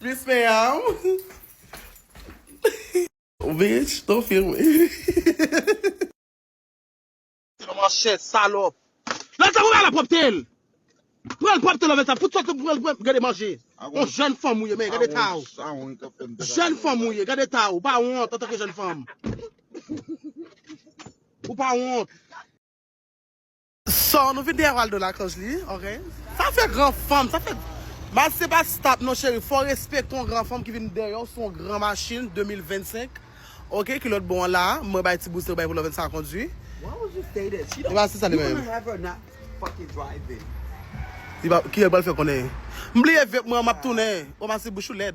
Plis men yanm. Ou bitch to film wi. Kòman chè salòp. Lè sa pou bay la propte l. Pran l propte love sa fout sot sou pran l gade manje. On jèn fanm ou ye men gade eta w. Jèn fanm ou ye gade eta w ou pa wont antanke jèn fanm. Ou pa wont. Sò nou vin deyè Waldo lakòz li ok. Sa fè gran fanm sa fè. Baz se pa stop non cheri fò respecte yon gran fanm ki vin dèyèw sou yon gran machine 2025 ok ki lòt bò an la mwen bay ti bouse ou bay pou lòvèn sa kondwi li pa se sa li menm kiyèl pral fè konnen m bliye vep mwen an map tounen oh masi bouch ou lèd.